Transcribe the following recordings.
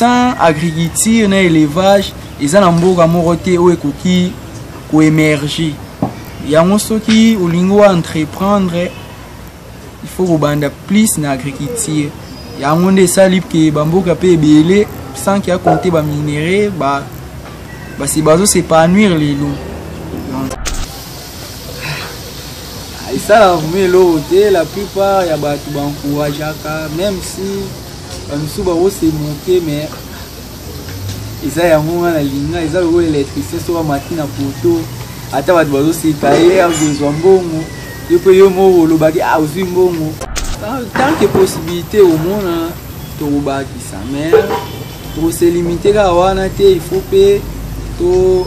sans agriculture na élevage eza na mboka moko te oyo ekoki koemerge yango soki olingi wa entreprendre il faut kobanda plus na agriculture yango nde esali ke bamboka mpe ebele sans ke akonte baminerais ba, basi bazosepanuire lelo ah, esalaka vraimen eloko te la plupart ya bato baencourageaka même si bamisusu bao se moke mais eza yango nga na linga eza lokola électricien soki amati na poto ata bato bazoseka ye akozwa mbongo yo mpe yo moko olobaki ah, ozwi mbongo ah, tant que possibilité omona tokobakisa mais tokoselimite kaka wana te il faut mpe to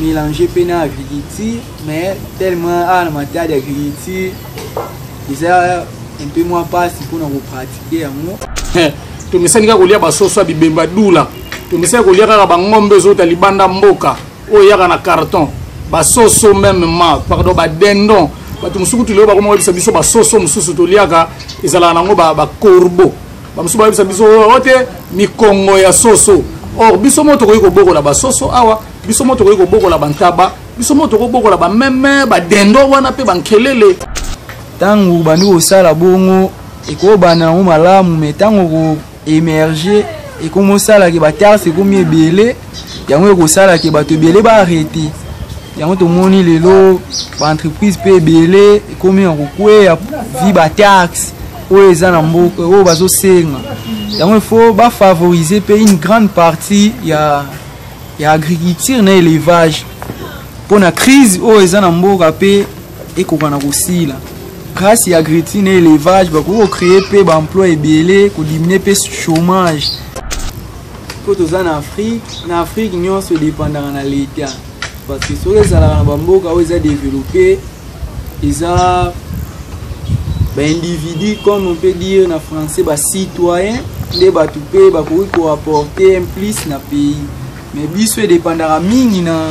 mélange mpe na agriculture mais tellement awa ah, na matadi agriculture eza un peu moins mpasi mpona kopratique nde yango eh, tomesani kaka kolia basoso ya bibemba dula tomesani kolia kaka bangombe ezouta libanda mboka oyo eyaka na carton basoso meme ma pardon badendon bato mosusu kutu lelo bakoma koyebisa biso basoso mosusu toliaka ezalaka nango bacorbo bamosusu bayebisa biso oyo oh, oh, te mikongo ya soso or biso moko tokoki kobokola basoso awa biso moko tokoki kobokola bantaba biso moko tokoki kobokola bameme badendo wana mpe bankelele ntango obandi kosala bongo ekobanda yango malamu me ntango koemerge ekomosalaki batarte ekomi ebele yango ekosalaki bato ebele baarrete yango tomoni lelo baentreprise mpe ebele ekomi na kokweya vi bataxe oyo eza na mboka oyo bazosenga yango ifo bafavorize mpe une grande partie ya, ya agriculture na élevage mpo na crise oyo eza na mboka mpe ekoka na kosila grâce ya agriculture na élevage bakoki kocreye mpe baemploi ebele kodimine mpe chômage mpo toza na afrique na afrique nyonso edepandaka na leta parce que soki ezalaka na bamboka oyo eza développe eza baindividu comme on peut dire na français bacitoyen nde bato mpe bakoki koapporte un plus na pays mais biso edepandaka mingi na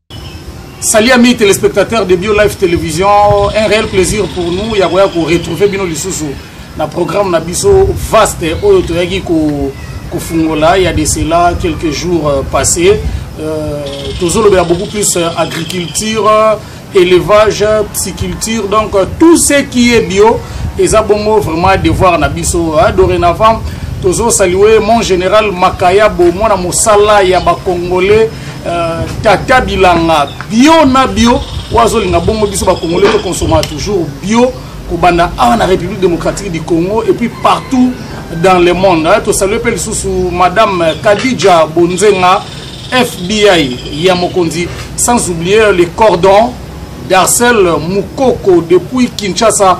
Salut amis téléspectateurs de Bio Life Télévision, un réel plaisir pour nous ya koya ko retrouver bino lisusu na programme na biso vaste oyo toyaki ko kofungola ya de cela quelques jours euh, passés euh, tozolobela beaucoup plus euh, agriculture élevage psyculture donc euh, tout ce qui est bio eza bongo vraiment devoir na biso hein, dorénavant tozo saluer mon général Makayabo mwana mosala ya ba congolais Euh, tata bilanga bio na bio oyo azolinga bongo biso bakongole tokonsoma toujours bio kobanda awa na république démocratique du congo et puis partout dans le monde tosalue mpe lisusu madame kadija bonzenga fbi ya mokonzi sans oublier le cordon darcel mukoko depuis kinshasa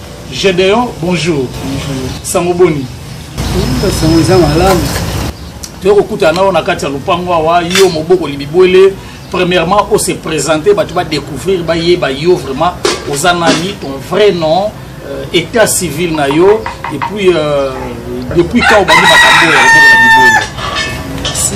Gedeon bonjour. Bonjour. Sango boni. Bonjour sango eza malamu. Toyo kokutana na yo na kati ya lopango awa yo moboko libibwele premièrement on se présenter bato ba découvrir bayeba yo vraiment oza nani ton vrai nom euh, état civil na yo et puis euh, depuis quand obandi makambo oyo oboko na libwele. Merci.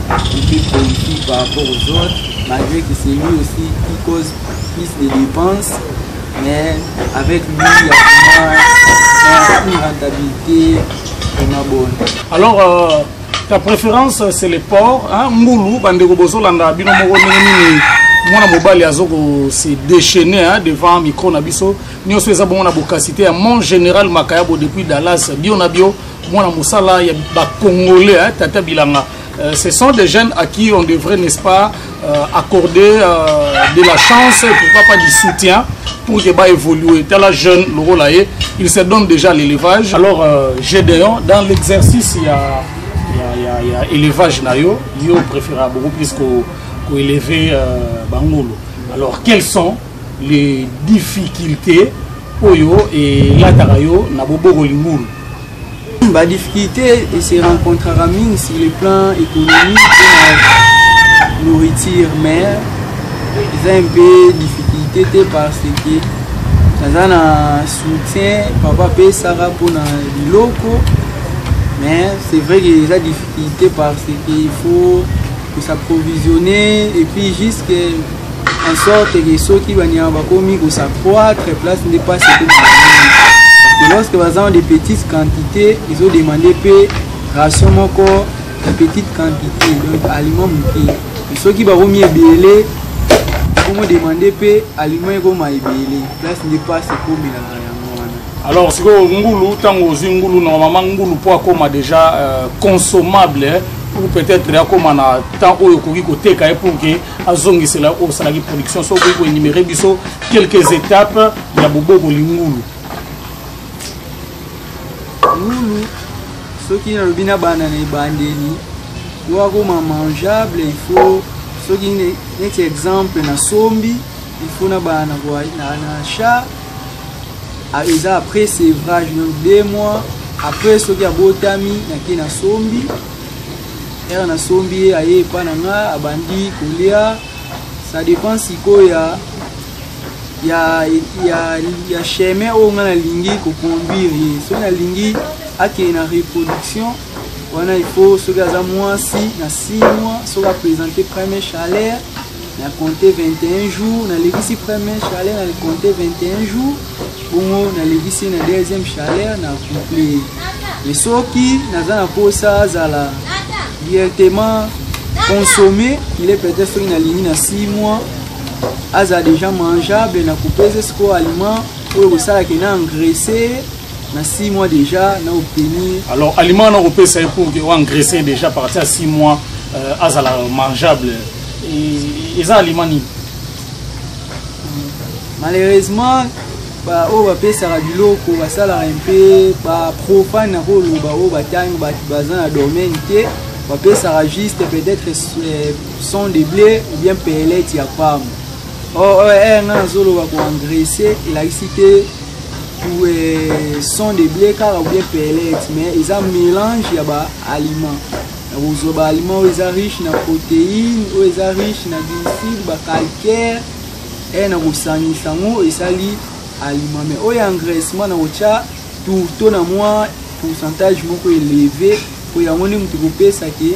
Public politique par rapport aux autres, malgré que c'est lui aussi qui cause plus de dépenses, mais avec lui, il y a vraiment une rentabilité vraiment bonne. Alors, euh, ta préférence, c'est les ports, hein, Moulou, Bandego Bozolanda, Bino Moro, Nini, mwana mobali azo kose déchaîne hein, devant micro na biso nyonso eza bongo na bokasite ya mon général makayabo depuis dallas bio na bio mwana mosala ya bacongolais hein, tata bilanga euh, ce sont des jeunes à qui on devrait n'est-ce pas euh, accorder euh, de la chance pourquoi pas du soutien pour que ba évoluer tala jeune lokola ye il se donne déjà l'élevage alors euh, gédéon dans l'exercice ya ya, ya, ya élevage na yo yo préféra beaucoup plus ko, ko élever euh, bangolo alors quels sont les difficultés oyo elataka yo na bobokoli ngulu ba difficulté et se rencontrera mingi sur le plan économique et nourriture mais eza un peu difficulté te parce que naza na soutien papa apesaka mpona biloko mais c'est vrai que eza difficulté parce que il faut s'approvisionner et puis jusque en sorte que soki banyama bakomi kosaccroître place nde mpasi ekoma parce que lorsque baza en de petites quantités ezodemande mpe ration moko ya petite quantité donc aliment moke soki bakomi ebele ekomodemande mpe aliment ekoma ebele place nde mpasi ekomelaka yango wana alors sikoyo ngulu ntango ozwi ngulu normalement ngulu mpo akoma déjà euh, consommable ou peut-être akoma na temps oyo okoki koteka ye pour que azongisela oyo osalaki production soki okoki koenumere biso quelques étapes ya boboko lingulu ngulu soki nalobi na bana na ebandeli po akoma mangeable il faut soki neti exemple na sombi il faut na bana na chat ah, eza après sevrage donc deux mois après soki abotami nake na sombi ere nasombi ye aye epa na nga abandi kolia ça dépend sikoyo ya ya ya ya chemin oyo nga nalingi koconduire ye soki nalingi akende na reproduction wana il faut soki aza mwasi na 6 mois soki apresente premier chaleur na compte 21 jours nalekisi premier chaleur na compte 21 jours bongo nalekisi na deuxième chaleur na couple mais soki naza na mposa azala directement consommé il est peut-être soki nalingi na 6 mois aza déjà mangeable na coupe eza sikoyo aliment oyo kosalaka na engraisse na 6 mois déjà na obtenir alors aliment na kopesa ye pour que oengraisser déjà partir ya 6 mois euh, azala mangeable eza aliment nini malheureusement baoyo oh, bapesaka biloko basalaka mpe baprofane na koloba oyo oh, batangi bato baza na domaine te bapesaka juste peut-être euh, son de blé ou bien pelete ya pamba or oh, eh, nga nazoloba koengraisse elakisi te ou euh, son de blé kaka ou bien pellette mais eza mélange ya ba aliment okozwa ba aliment oyo eza riche na protéine oyo eza riche na glucide ba calcaire e na kosangisa yango esali aliment mais oyo engraissement na kotya tourto na mwa pourcentage moko eleve po yango nde moto ekopesa ke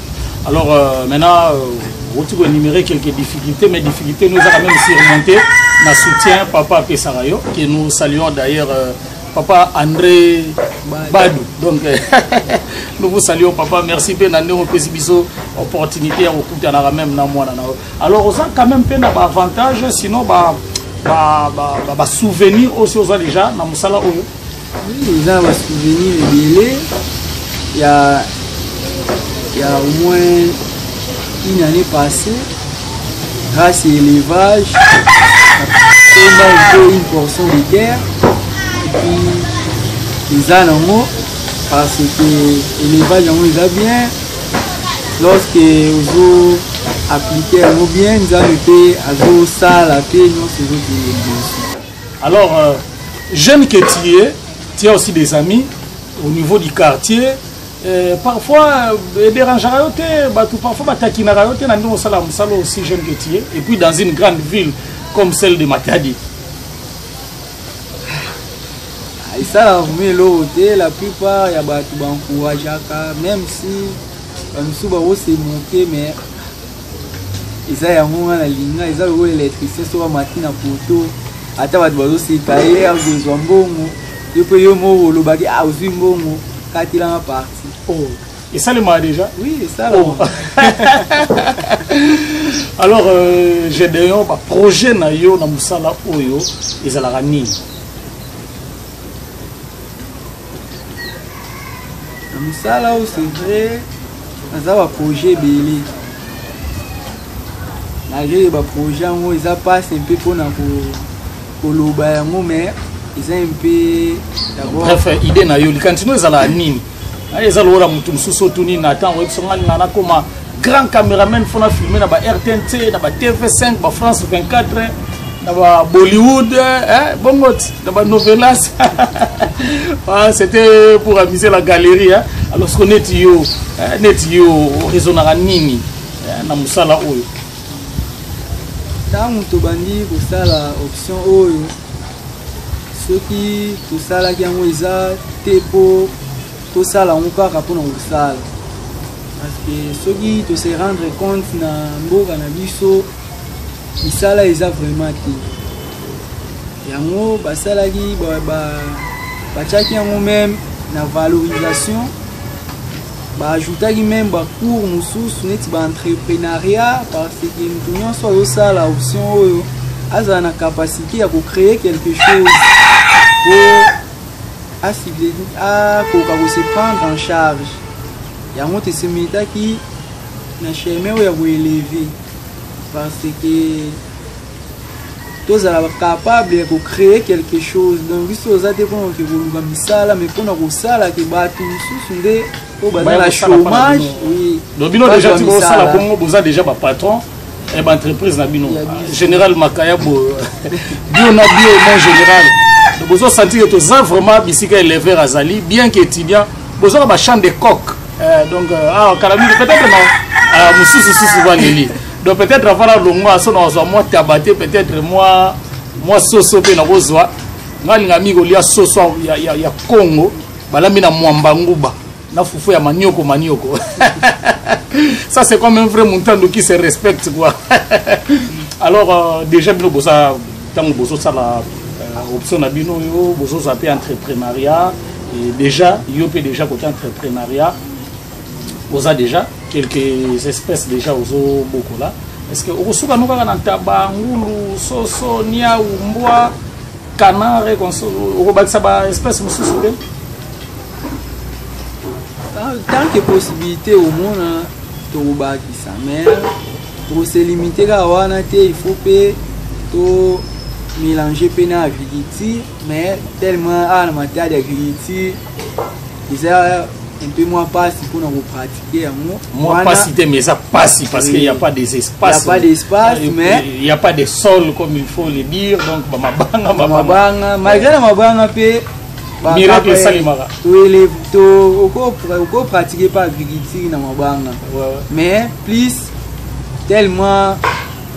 Alors euh, maintenant, euh, outi ko énumérer quelques difficultés, mais difficultés nous avons même surmonté na soutien papa Pesarayo, que nous saluons d'ailleurs euh, papa André Badou. Donc euh, nous vous saluons papa, merci pe na ndeko pesi biso opportunité ya kokutana na même na mwana na yo. Alors oza quand même pe na ba avantage sinon ba ba ba, ba, ba souvenir aussi oza déjà na musala oyo eza na basouvenir ebele ya ya au moins une année passée grâce ya élevage tomba mpe une portion de terre epuis eza nango parce que élevage yango eza bien lorsque ozo appliquer yango bien nzambe mpe azosala mpe nyonso ezokende liboso Alors, euh, jeune que tu es, tu as aussi des amis au niveau du quartier. Euh, parfois, euh, dérangeaka yo te, bato parfois batakinaka yo te na ndenge osala mosala aussi jeune que tu es. Et puis dans une grande ville comme celle de Matadi. esalaka vraimen eloko te la plupart ya bato baencourageaka même si bamisusu bakosemoke mais eza yango nga na linga eza lokola électricien soki amati na poto ata bato bazoseka ye akozwa mbongo yo mpe yo moko olobaki ah, ozwi mbongo katelanga parti oh, esalemaka déjà oui esalama oh. alors euh, gedeon baprojet na yo na mosala oyo ezalaka nini na mosala oyo c'est vrai naza baprojet ebele malgré baprojet yango eza mpasi mpe mpona koloba yango mai eza mpe bref idée na yo likanisi no ezalaka nini eza lokola motu mosusu otuni na ntango oyebisa ngai nga nakoma grand cameraman fo na filme na ba rtnc na ba tv5 ba france 24 na ba bollywood eh, bongo ti na ba novelas ah, c'était pour amuser la galerie hein? alors ce neti yo eh, neti yo oresonaka nini eh, na mosala oyo ntango tobandi kosala option oyo soki tosalaki yango eza te mpo tosala yango kaka mpona kosala parceke soki tose rendre compte na mboka na biso misala eza vraiment te yango basalaki batyaki yango meme na valorisation baajoutaki meme bacours mosusu neti baentrepreneuriat parceke moto nyonso azosala option oyo azala na capacité ya kocreye quelque chose po akoka ko se prendre en charge yango tesemetaki na chemin oyo ya koeleve parce que tozala capable ya kocree quelque chose donc biso toza te mpona ke koluka misala mais mpona kosala ke bato mosusu nde oyo baza na chômage oui bino deja ti bosala bongo boza deja bapatron eh, ba entreprise na bino général makayabo bio na bio mon général bozo sentir que toza vraiment bisika éleveur azali bien que étudiant bozoka ba chambre de coq euh, donc euh, ah kala mingi peut-être na ah, mosusu susu baleli donc peut-être avant na longwa so na azwa mwa tabate peut-être mwa mwa soso mpe nakozwa ngai alinga mingi kolia soso ya, ya, ya congo balambi na mwamba nguba na fufu ya manioko manioko ça c'est comme un vrai muntando qui se respecte quoi alors euh, déjà bino boza ntango bozosala euh, option na bino yo bozozwa mpe entreprenariat et déjà yo mpe déjà côté entreprenariat oza déjà quelques espèces déjà ozobokola est ce que okosuka no kaka na ntaba ngulu soso niau mbwa canare okobakisa ba espèce mosusu te Ah, tant que possibilité omona tokobakisa mais tokoselimite kaka wana te il faut mpe to mélange mpe na agriculture mais tellement awa na matadi agriculture eza un peu moins pasi mpona kopratike yango mwa pasi te mais eza pasi parce qu'il n'y a pas des espaces il n'y a pas d'espace euh, mais il n'y a pas de sol comme il faut le dire donc bamabanga bamabanga malgré na mabanga mpe miracle esalemaka okopratique mpe agriculture na mabanga mais plus tellement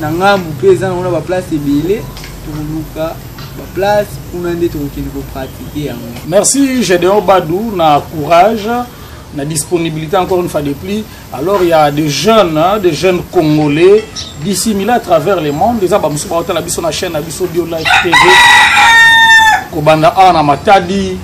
na ngambu mpe eza nango na baplace ebele tokoluka baplace kuna nde tokokende kopratike yango merci gedeon badou na courage na disponibilité encore une fois de plus Alors il y a des jeunes, hein, des jeunes congolais dissimulés à travers le monde. Les abats musuba hôtel abisso na chaîne abisso bio live TV. Kobanda a na Matadi,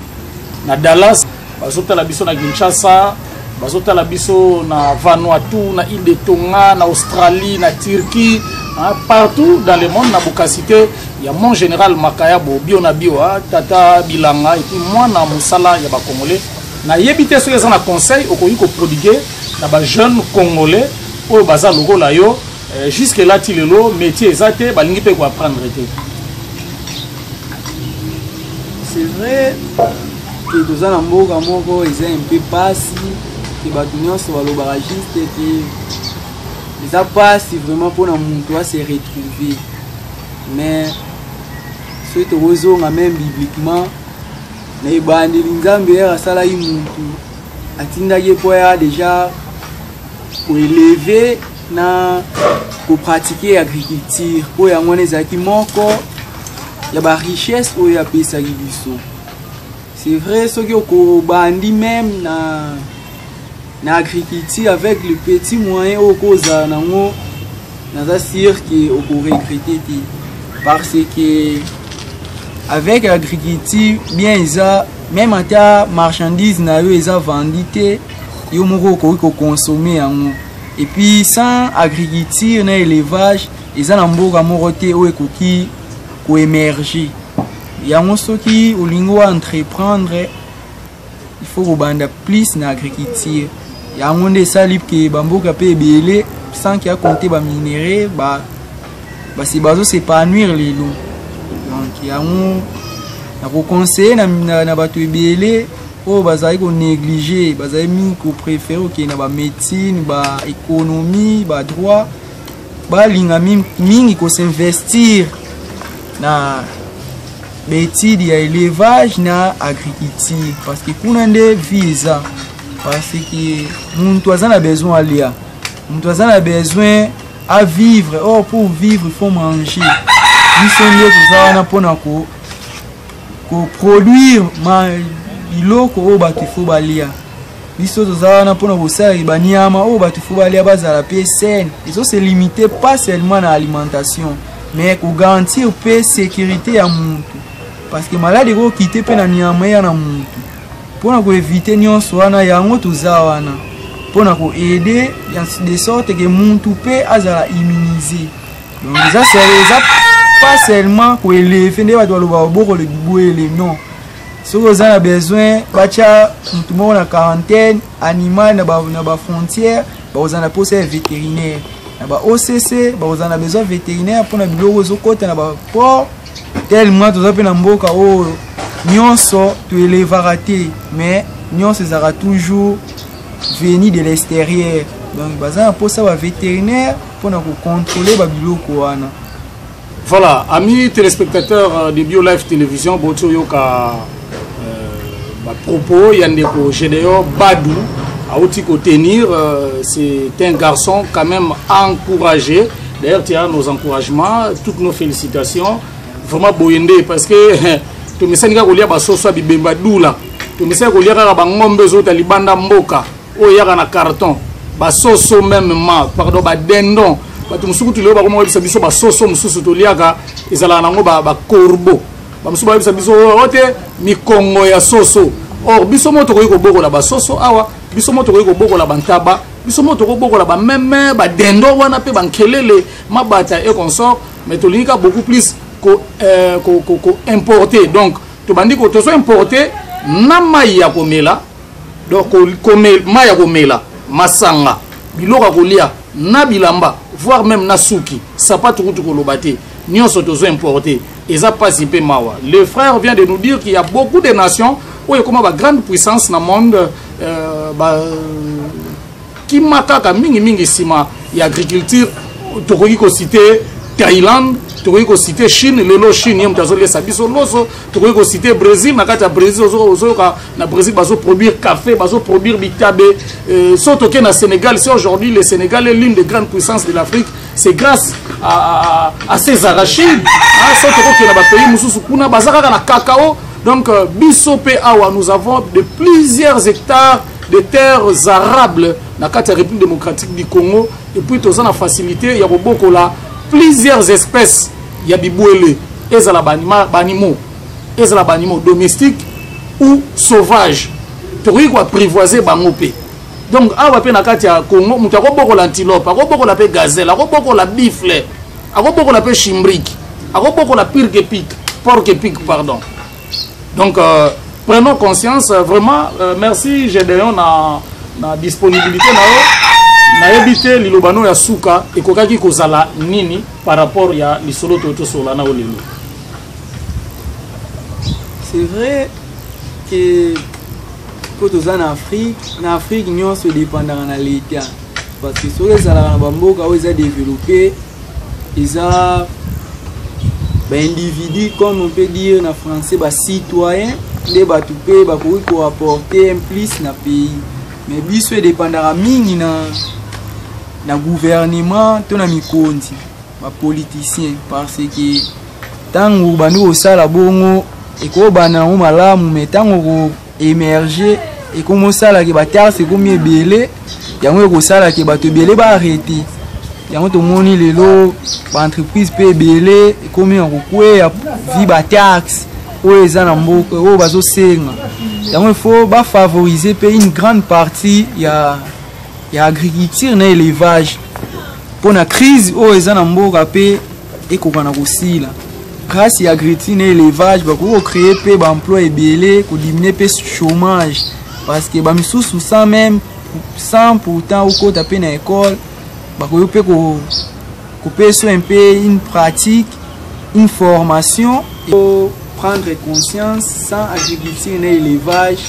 na Dallas, bazota la bisso na Kinshasa, bazota la bisso na Vanuatu, na île de Tonga, na Australie, na Turquie, hein, partout dans le monde na bokasite il y a mon général Makayabo bio na bio, hein, tata bilanga et puis moi na musala ya ba congolais. Na yebi te soki eza na conseil okoki ko prodiguer na ba jeunes congolais oyo baza lokola yo eh, jusque là ti lelo métier eza te balingi pe ko apprendre te. C'est vrai que toza na mboka moko eza un peu pasi que bato nyonso balobaka juste te eza pasi vraiment mpona moto a se retrouver mais soki tokozonga meme bibliquement na ebandeli nzambe ere asalaki muntu atindaki ye mpo ya deja koeleve na kopratike agriculture mpo yango wana ezalaki moko ya barichesse oyo apesaki biso c'est vrai soki okobandi meme na na agriculture avec le petit moyen oyo kozala nango naza sur ke okoregrete te parce que avec agriculture bien eza meme ata marchandise na yo eza vendi te yo moko okoki kokonsome yango epuis sans agriculture na élevage eza na mboka moko te oyo ekoki koemerge yango soki olingi oentreprendre il faut kobanda plus na agriculture yango nde esali ke bamboka mpe ebele sans ke akonte baminerai ba, basi bazo s'épanouir lelo donc yango nakoconseille na, na, na bato ebele oyo bazali konéglige bazali mingi kopréfere okende na bamédecine baéconomie badroit ba balinga mingi kosinvestir na baetide ya élevage na agriculture parce que kuna nde vie eza parce que muntu aza na besoin alia muntu aza na besoin avivre or pour vivre il faut manger biso nde toza wana mpona ko ko produire ma biloko oyo bato ifo balia biso toza wana mpona kosalaki baniama oyo bato ifo balia bazala mpe saine ezo se limite pas seulement na alimentation mais kogarantir mpe sécurité ya motu parce que maladi ekokite mpe na niama eya na motu mpona koevite nyonso wana yango toza wana mpona koaide de sorte ke muntu mpe azala immunise eza eza pas seulement koeleve nde bato baloba obokole bibwele non soki oza na besoin batya motu moko na quarantaine animal na bafrontière bakozala na mposa ya vétérinaire na ba occ bakozala na besoin vétérinaire mpona biloko ezokɔta na baport tellement toza mpe na mboka oyo oh, nyonso toelevaka te mais nyonso ezalaka toujours venu de l'extérieur donc baza na mposa ba vétérinaire mpo na kocontrole babiloko wana voilà ami téléspectateur euh, de bio live télévision boti oyoka euh, bapropos ya ndeko gédéon badou auti kotenir euh, c'est un garçon quand même encouragé d'ailleurs tu as nos encouragements toutes nos félicitations vraiment boye nde parce que tomesani kaka kolia basoso ya bibemba dula tomesani kolia kaka bangombe ezouta libanda mboka oyo eyaka na carton basoso meme ma pardon badendon bato mosusu kutu lelo bakoma koyebisa biso basoso mosusu toliaka ezalaka nango bacorbo bamosusu bayebisa biso oyo oh, oh, te mikongo ya soso or biso moko tokoki kobokola basoso awa biso moko tokoki kobokola bantaba biso moko tokoki kobokola bameme badendo wana mpe bankelele mabata e consort mais tolingi ka beaucoup plus koimporte euh, donc tobandi tozo importe na mai ya komela donc mai ya komela masanga biloko ya kolia na bilamba voire même na suki sapatu kutu koloba te nyonso tozo importe eza mpasi mpe mawa le frère vient de nous dire qu'il y a beaucoup de nations oyo ekoma ba grande puissance na monde euh, ba kima kaka mingimingi nsima ya agriculture tokoki kosite thaïlande tokoki kosite chine lelo chine ye moto azoliesa biso loso tokoki kosite brésil na kati ya brésil ozoyoka na brésil bazoproduire café bazoproduire bitabe euh, so toke na sénégal si aujourd'hui le sénégal est l'une des grandes puissances de l'afrique c'est grâce à, à, à ces arachides so tokokende na bapays mosusu kuna baza kaka na cacao donc euh, biso mpe awa nous avons de plusieurs hectares des terres arables na kati ya république démocratique du congo et puis toza na facilité ya kobokola plusieurs espèces ya bibwele ezala banimo ezala banimo domestique ou sauvage tokoki koaprivoise bango mpe donc awa mpe na kati ya congo moto akobokola antilope akobokola mpe gazelle akobokola bifle akobokola mpe chimbrique akobokola pirke pike porke pike pardon donc euh, prenons conscience euh, vraiment euh, merci gedeon na, na disponibilité na yo nayebi te liloba no ya suka ekokaki kozala nini par rapport ya lisolo toyo tosolola na yo lelo c'est vrai que mpo toza na afrique na afrique nyonso edepandaka na leta parce que soki ezalaka na bamboka oyo eza développe eza baindividu comme on peut dire na français bacitoyen nde bato mpe bakoki koapporte un plus na pays mais biso edepandaka mingi na, na gouvernement to na mikonzi bapoliticien parce que ntango bandi kosala bongo ekobanda yango malamu mai ntango emerge ekomi osala ke batarse ekomi ebele yango ekosala ke bato ebele baarrete yango tomoni lelo baentreprise mpe ebele ekomi ya kokweya vi bataxe oyo eza na mboka oyo bazosenga yango ifo bafavorize mpe une grande partie ya, ya agriculture na élevage mpo na crise oyo eza na mboka mpe ekoka na kosila grâce ya agriculture na élevage bakoki kocreye mpe baemploi ebele kodiminue mpe chômage parce que bamisusu sans même sans pourtant okota mpe na école bakoki mpe kopesa un peu une pratique une formation prendre conscience sans agriculture na élevage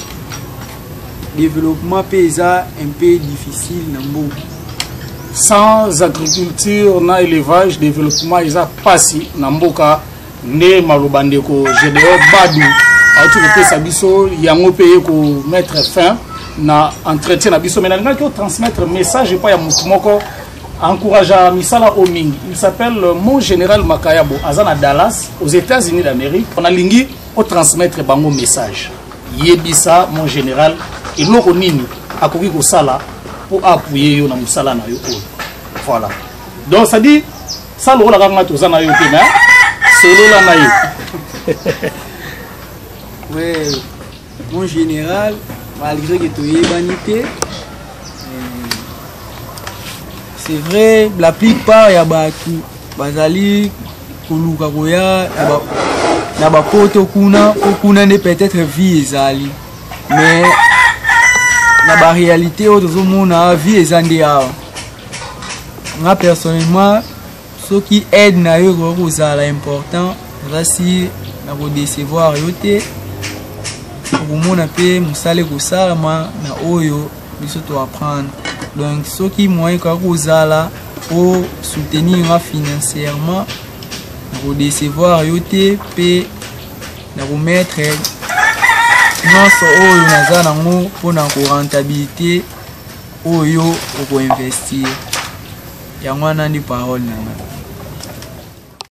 Développement pe eza un peu difficile na mboka. Sans agriculture na élevage, développement eza pasi na mboka nde maloba ndeko Gedeon Badu auti kopesa biso yango pe ye ko mettre fin na entretien na biso mais nalingaki otransmettre message epai ya motu moko encouragea misala oyo mingi il s'appelle mon général makayabo aza na dallas aux états-unis d'amérique nalingi otransmettre bango message yebisa mon general eloko nini akoki kosala mpo apuye yo na mosala na yo oyo voilà donc cestadire sa lokola kaka ngai toza na yo te na solola na ye ouais mon général malgré que toyebani te c'est vrai la plupart ya bato bazali koluka koya na bapoto kuna mpo kuna nde peut-être vie ezali mais na baréalité oyo tozomona vie eza nde awa nga personnellement soki aide na yo ekoki kozala important oza si na kodecevoir yo te okomona mpe mosala ekosalama na oyo biso to apprendre donc soki moyen ekoya kozala o soutenir nga financièrement nakodecevoir yo te mpe nakomettre nyonso oyo naza nango mpona korentabilité oyo okoinvestir yango wana nde parole na ngai